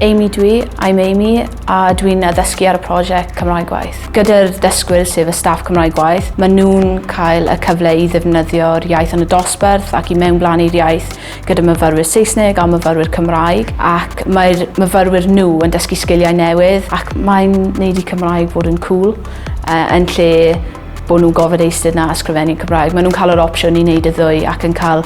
Amy dwi, I'm Amy, a dwi'n addysgu ar y prosiect Cymraeg Gwaith. Gyda'r ddysgwyr sef y staff Cymraeg Gwaith, maen nhw'n cael y cyfle i ddefnyddio'r iaith yn y dosbarth ac i mewnblanu'r iaith gyda myfyrwyr Saesneg a myfyrwyr Cymraeg ac mae'r myfyrwyr nhw yn dysgu sgiliau newydd ac mae'n neud i Cymraeg fod yn cool uh, yn lle bod nhw'n gofod eistedd na ysgrifennu Cymraeg. Maen nhw'n cael yr opsiwn i wneud y ddwy ac yn cael